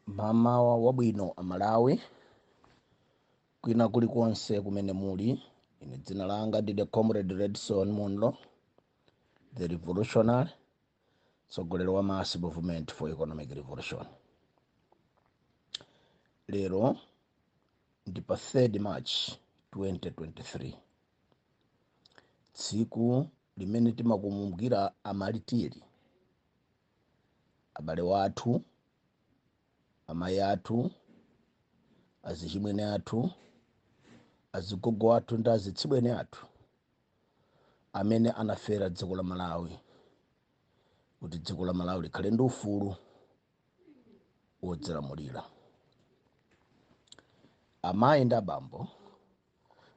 Mamawa wabwino Amalawi, kwina kulikonse kumene muli. Ine dzina langa ndine Comrade Redson Munlo, the revolutionary, mtsogoleri wa Mass Movement for Economic Revolution. Lero ndi pa 3 March 2023, tsiku limene timakumbukira amatiri abale wathu amayi athu azichimwene athu azigogo athu ndi azitsibweni athu amene anafera dziko la malawi kuti dziko la malawi likhale ndi ufulu wodzilamulira amayi ndi abambo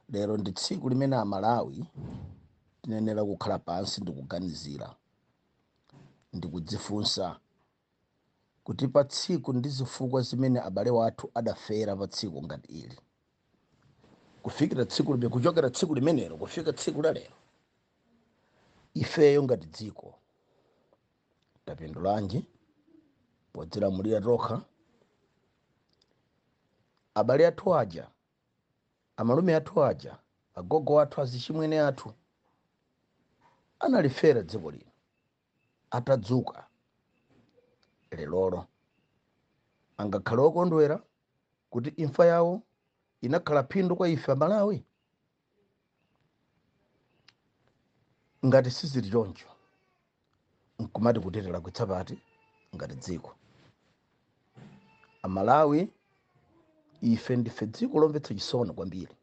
lero ndi tsiku limene amalawi tiyenera kukhala pansi ndikuganizira ndi kudzifunsa kuti pa tsiku ndi zifukwa zimene abale wathu adafera pa tsiku ngati ili kufikira tsiku lime kuchokera tsiku limenelo kufika tsiku la lero ifeyo ngati dziko tapindulanji podzilamulira tokha abale athu aja Amalume athu aja, agogo athu, azichimwene athu analifera dziko lino atadzuka lerolo, angakhale okondwera kuti imfa yawo inakhala phindu kwa ife Amalawi? Ngati sizili choncho, nkumati kodi tilakwitsa pati ngati dziko amalawi ife ndife dziko lomvetsa chisoni kwambiri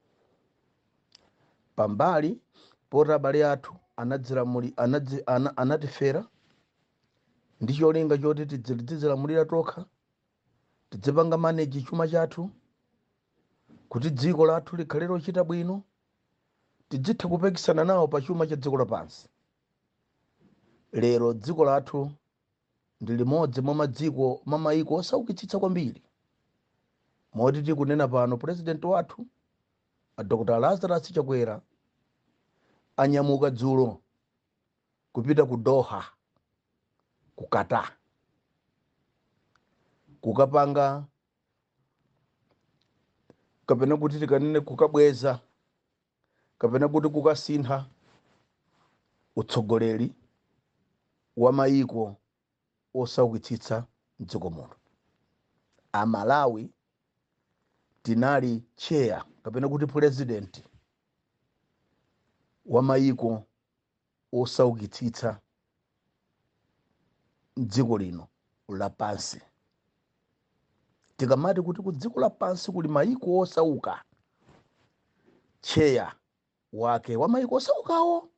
pambali poti abale athu anadzilamuli anadzi, ana, anatifera ndi cholinga choti tidzi- tidzilamulira tokha tidzipanga maneji chuma chathu kuti dziko lathu likhale lochita bwino tidzitha kupikisana nawo pa chuma cha dziko lapansi Lero dziko lathu ndi limodzi mwa madziko mwa mayiko osaukitsitsa kwambiri moti tikunena pano pulezidenti wathu a Dr. Lazarus Chakwera anyamuka dzulo kupita ku Doha ku Qatar kukapanga kapena kuti tikanene kukabweza kapena kuti kukasintha utsogoleri wa mayiko osaukitsitsa mdziko muno a Malawi tinali chair kapena kuti president wa mayiko wosaukitsitsa m'dziko lino lapansi. Tikamati kuti ku dziko lapansi kuli mayiko osauka, tcheya wake wa mayiko osaukawo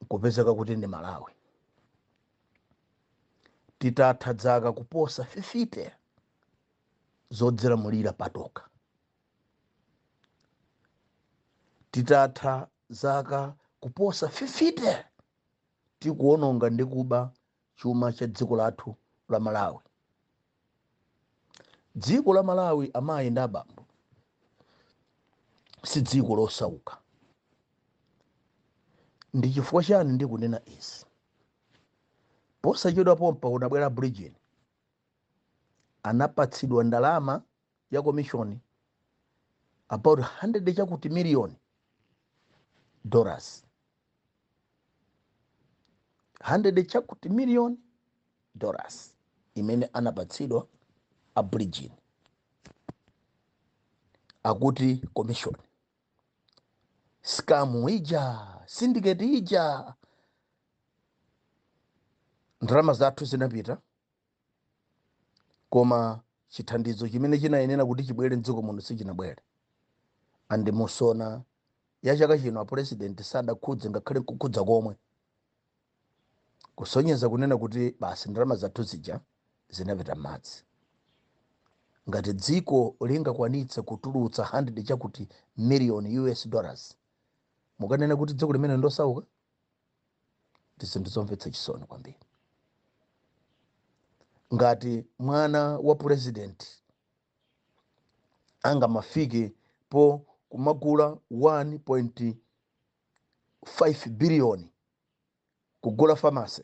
nkupezeka kuti ndi Malawi. Titatha dzaka kuposa 50 zodzilamulira patoka, titatha zaka kuposa 50 tikuononga ndi kuba chuma cha dziko lathu la malawi dziko la malawi amayi ndi abambo si dziko losauka ndi chifukwa chani ndikunena izi posachedwa pompa kunabwera Bridgin anapatsidwa ndalama ya komishoni about 100 chakuti million dollars 100 chakuti million dollars imene anapatsidwa a Bridgin akuti commission scam ija syndicate ija ndalama zathu zinapita koma chithandizo chimene chinayenera kuti chibwere mdziko muno sichinabwele and mu SONA ya chaka chino apulezidenti sadakhudze ngakhale nkukhudza komwe kusonyeza kunena kuti basi ndalama zathu zija zinapita m'madzi ngati dziko lingakwanitse kutulutsa 100 chakuti million us dollars mukanena kuti dziko limene ndosauka ndi zinthu zomvetsa chisoni kwambiri ngati mwana wa purezidenti angamafike po kumagula 1.5 biliyoni kugula famase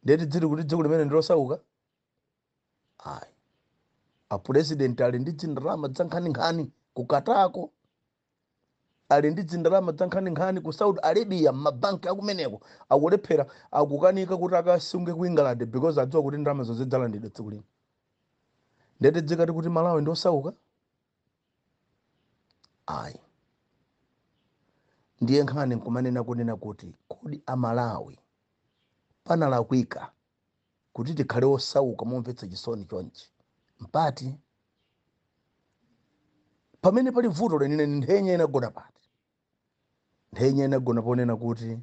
ndiye tidziti kuti dziko limene ndilosauka ayi apurezidenti ali ndi dzindalama dzankhaninkhani ku Qatar ko ali ndi dzindalama dzankhaninkhani ku saudi arabia mmabanki akumeneko akulephera akukanika kuti akasunge ku england because adziwa kuti ndalama zonse dzalandidwa tsiku lino ndiye tidzikati kuti malawi ndi osauka ayi ndiye nkhani nkumanena kunena kuti kodi amalawi panalakwika kuti tikhale osauka momvetsa chisoni chonchi mpati pamene pali vuto lenileni nthenya inagona pati nthenya inagona ponena kuti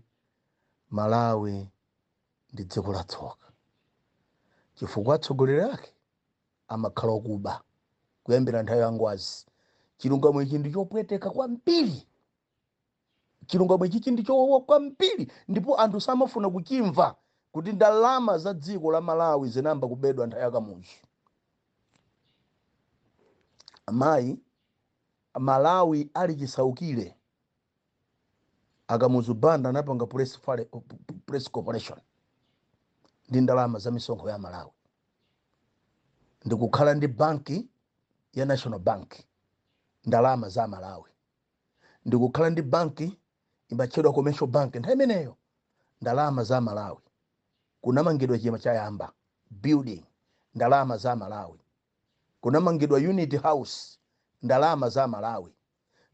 malawi ndi dziko la tsoka chifukwa atsogoleri ake amakhala okuba kuyambira nthawi ya ngwazi chilungamo ichi ndi chopweteka kwambiri chilungamo ichichi ndi chowawa kwambiri ndipo anthu samafuna kuchimva kuti ndalama za dziko la malawi zinayamba kubedwa nthawi ya kamuzu amayi malawi ali chisaukire akamuzu banda anapanga press, fale- press corporation ndi ndalama za misonkho ya malawi ndikukhala ndi banki ya national bank ndalama za malawi ndikukhala ndi banki imatchedwa commercial bank nthawi imeneyo ndalama za malawi kunamangidwa chayamba building ndalama za malawi kunamangidwa unity house ndalama za malawi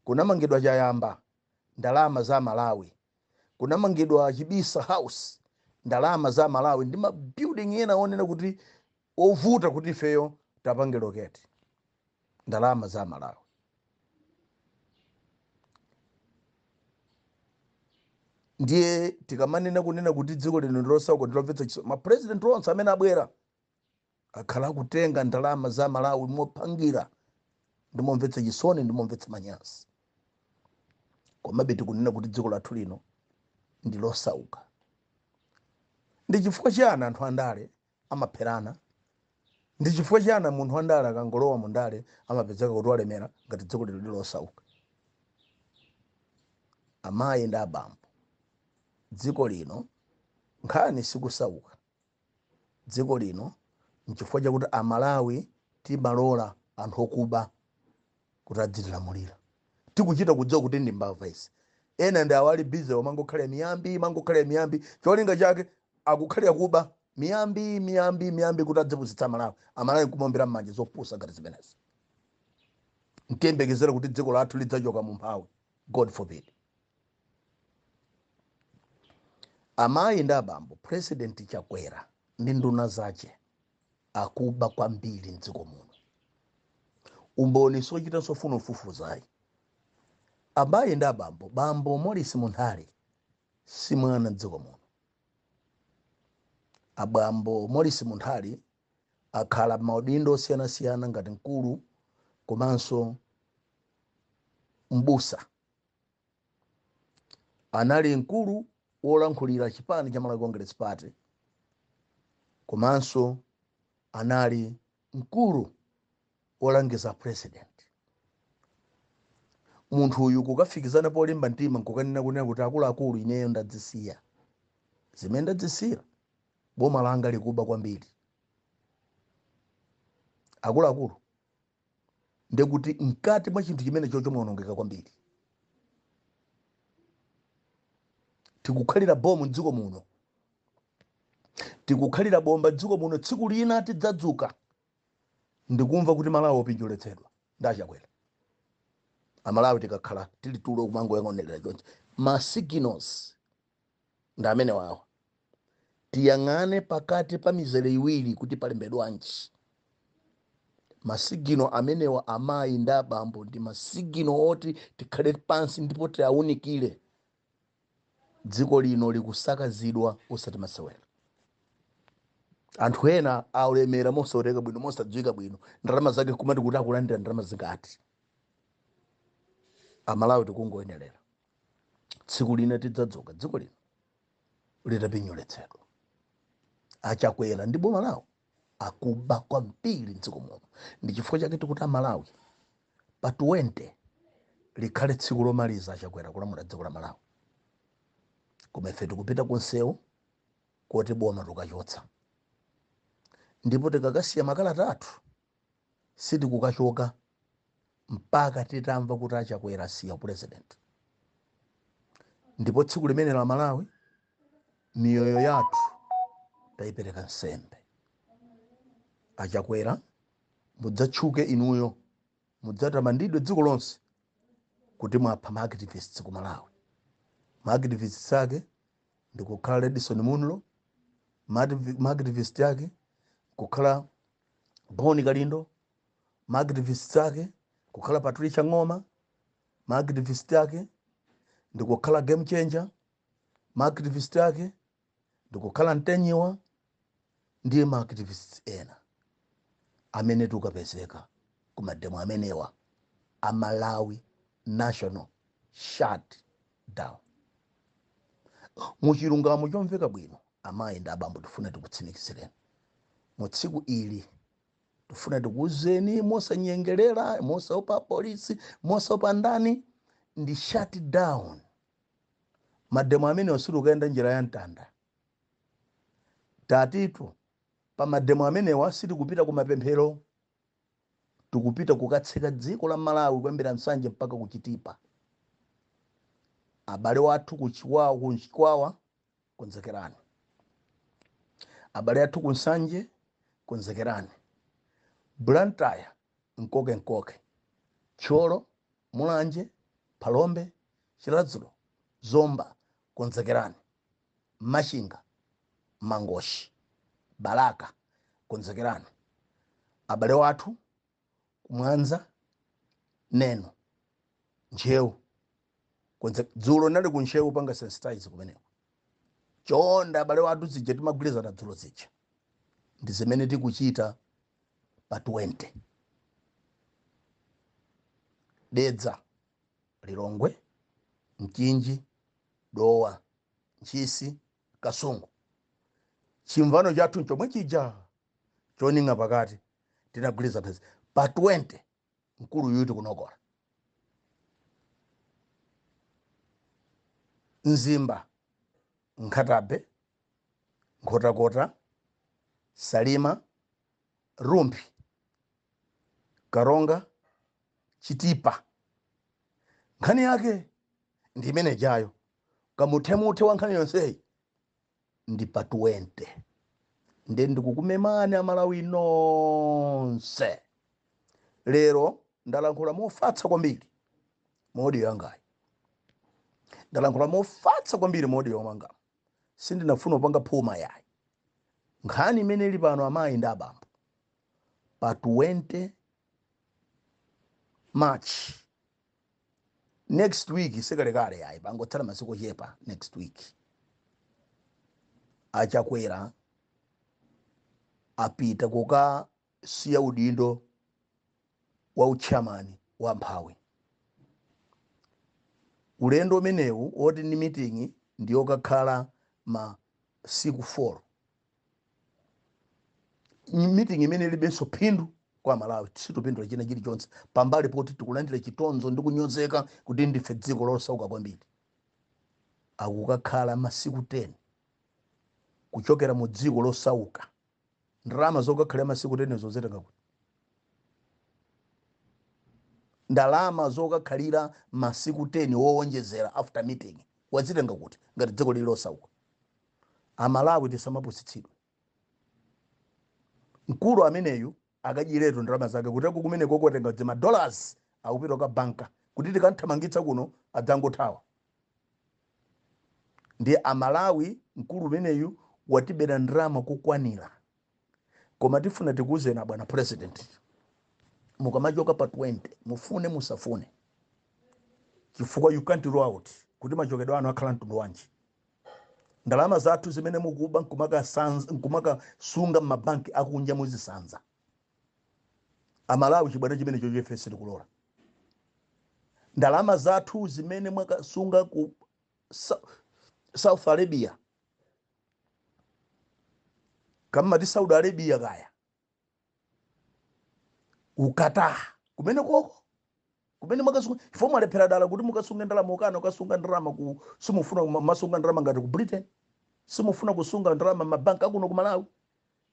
kunamangidwa chayamba ndalama za malawi kunamangidwa chibisa house ndalama za malawi ndi mabuilding ena onena kuti ovuta kuti ifeyo tapange loketi ndalama za malawi ndiye tikamanena kunena kuti dziko lino ndilosauka ndilomvetsa chisoni mapresident onse amene abwera akhala akutenga ndalama za malawi mophangira ndimomvetsa chisoni ndimomvetsa manyazi komabe tikunena kuti dziko lathu lino ndilosauka ndi chifukwa chiyani anthu andale amapherana? Ndichifukwa chiyani munthu wandale akangolowa mundale amapezeka kuti walemera ngati dziko lino ndilosauka? Amayi ndi abambo, dziko lino nkhani sikusauka, dziko lino nchifukwa chakuti a Malawi timalola anthu okuba. kuti adzitilamulira. Tikuchita kudziwa kuti ndi mbava izi. Ena ndi awa ali busy omangokhalira miyambi, mangokhalira miyambi. Cholinga chake akukhalira kuba miyambi, miyambi, miyambi kuti adzipusitsa Amalawi. Amalawi nkumaombera m'manja zopusa ngati zimenezi. Ntiyembekezere kuti dziko lathu lidzachoka mu umphawi. God forbid. Amayi ndi abambo, President Chakwera ndi nduna zace akuba kwambiri mdziko muno umboni sochitanso kufuna kufufuza ayi amayi ndi abambo bambo morris munthali si mwana mdziko muno abambo morris munthali akhala maudindo osiyanasiyana ngati mkulu komanso mbusa anali mkulu wolankhulira chipani cha malawi congress party komanso anali mkulu wolangiza president munthu uyu kukafikizana polimba mtima nkukanena kunena kuti akuluakulu ineyo ndadzisiya zimene ndadzisiyira boma langa likuba kwambiri akuluakulu ndekuti mkati mwa chinthu chimenecho chawonongeka kwambiri tikukhalira bomu mdziko muno tikukhalira bomba mdziko muno tsiku lina tidzadzuka ndikumva kuti malawi wapinyoletsedwa ndi achakwera amalawi tikakhala tili tulo kumangoyang'anirira chonchi ma signals ndi amenewa awa tiyang'ane pakati pa mizere iwiri kuti palembedwanji masigino amenewa amayi ndi abambo ndi masigino oti tikhale pansi ndipo tiawunikire dziko lino likusakazidwa osati masewera anthu ena alemera mosaoneka bwino mosadziwika bwino ndalama zake kumati kuti akulandira ndalama zingati amalawi tikungoonerera tsiku lina tidzadzuka dziko lino litapinyoletsedwa achakwera ndi boma lawo akuba kwambiri mdziko muno ndi chifukwa chake tikuti amalawi pa 20 likhale tsiku lomaliza achakwera kulamula dziko la malawi koma ife tikupita kunsewu kuti boma tukachotsa ndipo tikakasiya makalata athu Sitikukachoka mpaka titamva kuti a Chakwera asiya upulezidenti. Ndipo tsiku limenelo a Malawi miyoyo yathu tayipereka nsembe. A Chakwera mudzatchuke inuyo, mudzatamandidwe dziko lonse kuti mwapha ma activists ku Malawi. Ma activists ake ndikukhala Redson Munlo, ma activist ake kukhala boni kalindo maactivist ake kukhala patricia ng'oma maactivist ake ndikukhala game changer maactivist ake ndikukhala mtenyiwa ndi maactivist ena amene tikapezeka kumademo amenewa a malawi national shut down muchilungamo chomveka bwino Amayi ndi abambo tifuna tikutsimikizireni mu tsiku ili, tifuna tikuuzeni mosanyengelera, mosaopa apolisi, mosaopa ndani, ndi shut down mademo amenewa sitikukayenda njira ya mtanda tatitu pa mademo amenewa sitikupita ku mapemphero tikupita kukatseka dziko la malawi kuyambira nsanje mpaka kuchitipa abale wathu kuchikwawa konzekerani abale athu kunsanje konzekerani blantyre nkoke nkoke thyolo mulanje phalombe chiradzulu zomba konzekerani machinga mangochi balaka konzekerani abale wathu kumwanza neno ntcheu konse dzulo nali ku ntcheu kupanga sensitize kumeneko chonda abale wathu zija timagwirizana dzulo zija ndi zimene tikuchita pa 20 dedza lilongwe mchinji dowa ntchisi kasungu chimvano chathu nchomwe chija choning'a pakati tinagwirizana mphezi pa 20 mkulu yuti kunonkola mzimba nkhata bay nkhotakota salima rumphi karonga chitipa nkhani yake ndi imenejayo kamuthemuthe wa nkhani yonseyi ndi pa 20 nde ndikukumemani amalawi nonse lero ndalankhula mofatsa kwambiri mu odiyo yangayi ndalankhula mofatsa kwambiri mu odiyo yomanga sindinafuna kupanga phuma yayi nkhani imene ili pano amayi ndi abambo pa 20 march next week sikalekale ayi pangotsala masiku ochepa next week a chakwera apita kukasiya udindo wa utchairman wa amphawi ulendo umenewu woti ndi miting'i ndi yokakhala masiku 4 meeting imene ilibenso phindu kwa malawi sitopindula china chilichonse pambali poti tikulandira chitonzo ndi kunyozeka kuti ndife dziko losauka kwambiri akukakhala masiku 10 kuchokera mu dziko losauka ndalama zokakhalira masiku 10 azitenga kuti ndalama zokakhalira masiku 10 wowonjezera after meeting wazitenga kuti ngati dziko lili losauka Amalawi tisamapusitsidwe. Mkulu ameneyu akudziwiratu ndalama zake kuti kumenekoko watenga zima dollars akupita kukabanka kuti tikamthamangitsa kuno adzangothawa. Ndiye amalawi mkulu umeneyu watibera ndalama kokwanira. koma tifuna tikuuzeni abwana president mukamachoka pa 20 mufune musafune chifukwa you can't rule out kuti machokedwe anu akhala a mtundu wanji ndalama zathu zimene mukuba nkumakasanza- nkumakasunga mmabanki akunja muzisanza amalawi chibwana chimenecho ife sitikulola ndalama zathu zimene mwakasunga ku Sa- south arabia kamati saudi arabia kaya ku Qatar kumene koko kumene mwakasunga inuyo mwalephera dala kuti mukasunge ndalama mukana mukasunga ndalama ku simufuna kuma- masunga ndalama ngati ku britain simufuna kusunga ndalama mabanki akuno ku malawi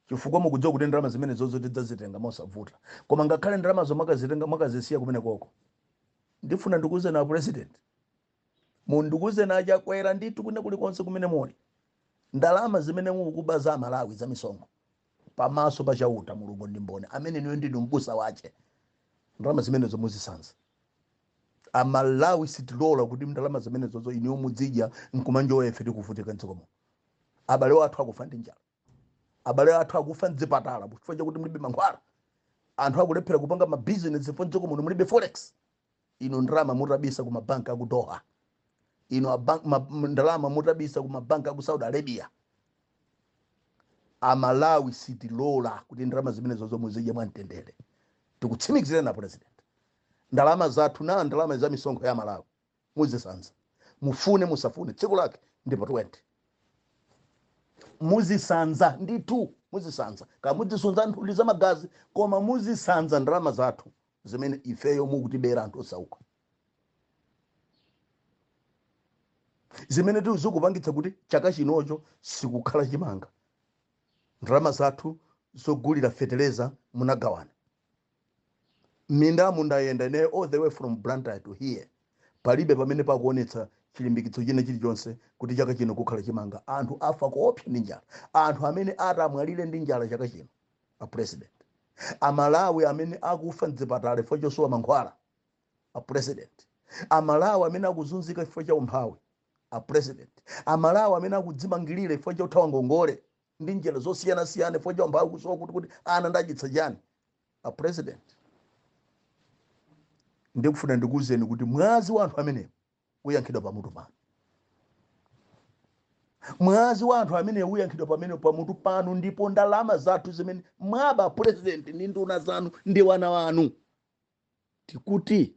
chifukwa mukudziwa kuti ndalama zimene zozo tidzazitenga mosavuta koma ngakhale ndalamazo mwakazitenga mwakazisiya kumene koko ndifuna ndikuuzeni a president Ndikuuzeni a Chakwera ndithu kwina kulikonse kumene muli ndalama zimene mukuba za amalawi za misonkho pa maso pa chauta mulungu ndi mboni amene inuyo ndinu m'busa wache ndalama zimenezozo muzisanza amalawi sitilola kuti ndalama zimenezozo inuyo mudzidya nkumanjoya ife tikuvutika mdziko muno abale wathu akufa ndi njala abale athu akufa mdzipatala chifukwa chakuti mulibe mankhwala anthu akulephera kupanga mabizinesi chifukwa mdziko muno mulibe forex inu ndalama mutabisa ku mabanki aku doha inu abank- ma- m- ndalama mutabisa ku mabanki aku saudi arabia amalawi sitilola kuti ndalama zimenezozo muzidye mwamtendere tikutsimikizireni a president ndalama zathuzo ndi ndalama za misonkho ya amalawi muzisanza mufune musafune tsiku lake ndi pa 20 muzisanza ndithu muzisanza kaya muzisanza nthuli za magazi koma muzisanza ndalama zathu zimene ifeyo mukutibera anthu osauka zimenetu zikupangitsa kuti chaka chinonso sikukhala chimanga ndalama zathu zogulira feteleza munagawana Mindamu ndayenda ine all the way from Blantyre to here, palibe pamene pakuonetsa chilimbikitso china chilichonse kuti chaka chino kukhala chimanga. Anthu afa koopsa ndi njala. Anthu amene ati amwalire ndi njala chaka chino, a president. A Malawi amene akufa m'dzipatala chifukwa chosowa mankhwala, a president. A Malawi amene akuzunzika chifukwa cha umphawi, a president. A Malawi amene akudzimangirira chifukwa chothawa ngongole, ndi njira zosiyana siyana chifukwa cha umphawi kusowa kuti ana ndiwadyetsa chani a president ndikufuna ndikuwuzeni kuti mwazi wa anthu amenewo uyankhidwa pamutu panu mwazi wa anthu amenewo uyankhidwa pamene pamutu panu ndipo ndalama zathu zimene mwaba a president ndi nduna zanu ndi wana wanu tikuti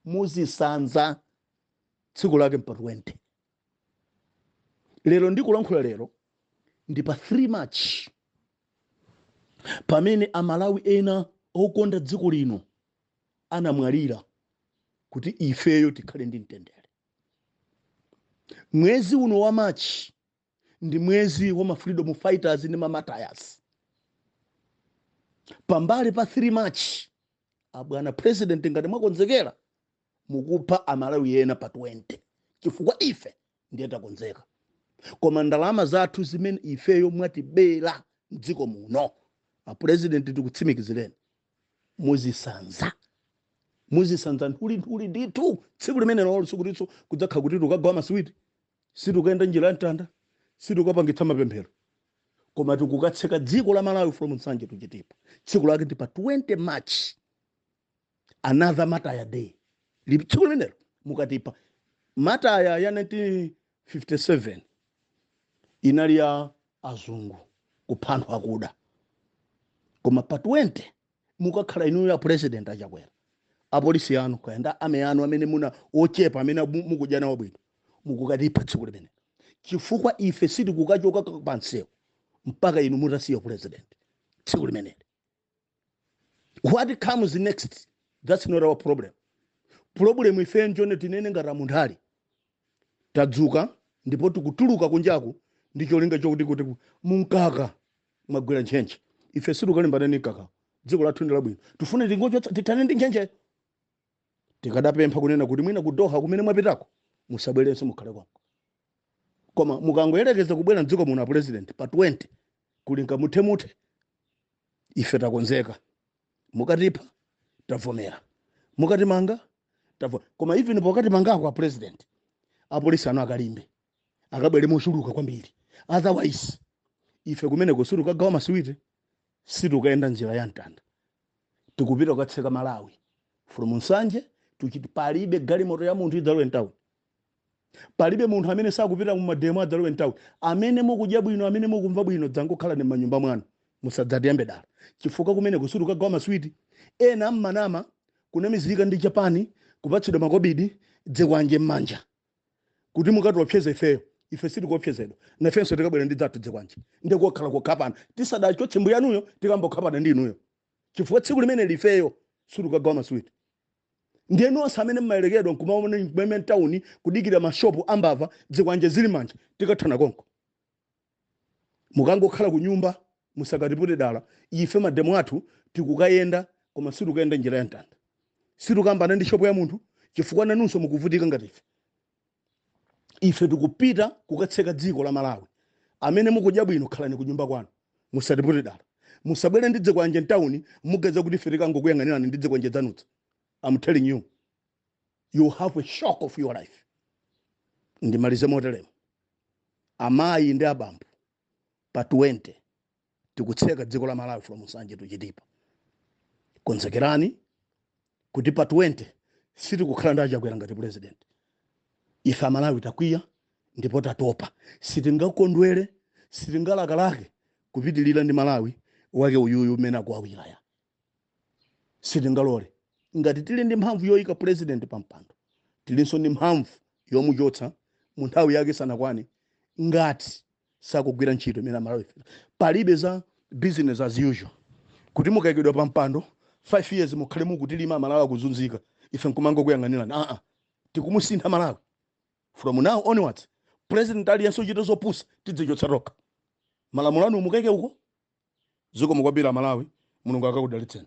muzisanza tsiku lake mpa 20 lero ndikulankhula lero ndi pa 3 march pamene amalawi ena okonda dziko lino anamwalira kuti ifeyo tikhale ndi mtendere mwezi uno wa march ndi mwezi wa ma freedom fighters ndi ma martyrs pambali pa 3 march abwana president ngati mwakonzekera mukupha amalawi ena pa 20 chifukwa ife ndiye takonzeka koma ndalama zathu zimene ifeyo mwatibera mdziko muno apurezidenti tikutsimikizireni muzisanza muzisanza nthulinthuli ndithu tsiku limenelolo sikutinso kudzakhala kuti tikagawa masiwiti sitikayenda njira ya mtanda sitikapangitsa mapemphero koma tikukatseka dziko la malawi from nsanje to chitipa tsiku lake ndi pa 20 march another martyrs day Li- tsiku limenelo mukatipha martyrs ya 1957 inali ya azungu kupha anthu akuda koma pa 20 mukakhala inuyo a president a chakwera apolisi anu kaya ndi army yanu amene muna ochepa amene mu- mukudya nawo bwino mukukatipha tsiku limene chifukwa ife sitikukachoka pansewu mpaka inu mutasiya upresident tsiku limeneli what comes next that's not our problem problem ife njone tinene ngati a munthali tadzuka ndipo tikutuluka kunjaku ndi cholinga chokuti kuti mumkaka mwagwera ntchentche ife sitikalimbana ndi mkaka dziko lathu ndi labwino tifuna tingochotsa tithane ndi ntchentche tikadapempha kunena kuti mwina ku doha kumene mwapitako musabwerenso mukhale konko koma mukangoyerekeza kubwera mdziko muno a president pa 20 kuli nkamuthemuthe ife takonzeka mukatipha tavomera mukatimanga tavo koma even pokatimangako a president apolisi anu akalimbe akabwere mochuluka kwambiri otherwise ife kumeneko sitikagawa masiwiti sitikayenda njira ya mtanda tikupita kukatseka malawi from nsanje to chiti palibe galimoto ya munthu idzalowe mtauni palibe munthu amene sakupita mumademo adzalowe mtauni amene mukudya bwino amene mukumva bwino dzangokhalani m'manyumba mwanu musadzatiyambe dala chifukwa kumeneko sitikukagawa maswiti ena mmanama kunamizika ndi japani kupatsidwa makobidi dzikwanje m'manja kuti mukatiopseze ifeyo ife sitikuopsezedwa nafenso tikabwera ndi dzathu dzikwanje ndikokhala kukhapana tisadachotse mbuyanuyo tikayamba kukhapana ndi inuyo chifukwa tsiku limeneli ifeyo sitikagawa maswiti ndiye nonse amene mmayerekedwa nkumaona kumeme mtawuni kudikira mashopu ambava dzikwanje zili m'manja tikathana konko mukangokhala ku nyumba musakatipute dala ife mademo athu tikukayenda koma sitikayenda njira ya mtanda sitikalimbana ndi shopu ya munthu chifukwa nanunso mukuvutika ngati ife ife tikupita kukatseka dziko la malawi amene mukudya bwino khalani ku nyumba kwanu musatipute dala musabwere ndi dzikwanje mtawuni muganiza kuti ife tikangokuyang'anirani ndi dzikwanje dzanudza am telling you you have a shock of your life ndimalize motelemo amayi ndi abambo pa 20 tikutseka dziko la malawi from nsanje to chitipa konzekerani kuti pa 20 sitikukhala ndi achakwera ngati president ife amalawi takwiya ndipo tatopa sitingakondwere sitingalakalake kupitirira ndi malawi wake uyuyu umene akuwawirayu sitingalole ngati tili ndi mphamvu yoyika pulezidenti pa mpando tilinso ndi mphamvu yomuchotsa mu nthawi yake isanakwane ngati sakugwira ntchito imene amalawi palibe za business as usual kuti mukayikidwa pa mpando 5 years mukhale mukutilima amalawi akuzunzika ife nkumangokuyang'anirani aa tikumusintha malawi From now onwards president aliyense ochita zopusa tidzichotsa tokha. Malamulo anu mukaike uko. Zikomo kwambiri a Malawi, Mulungu akakudalitseni.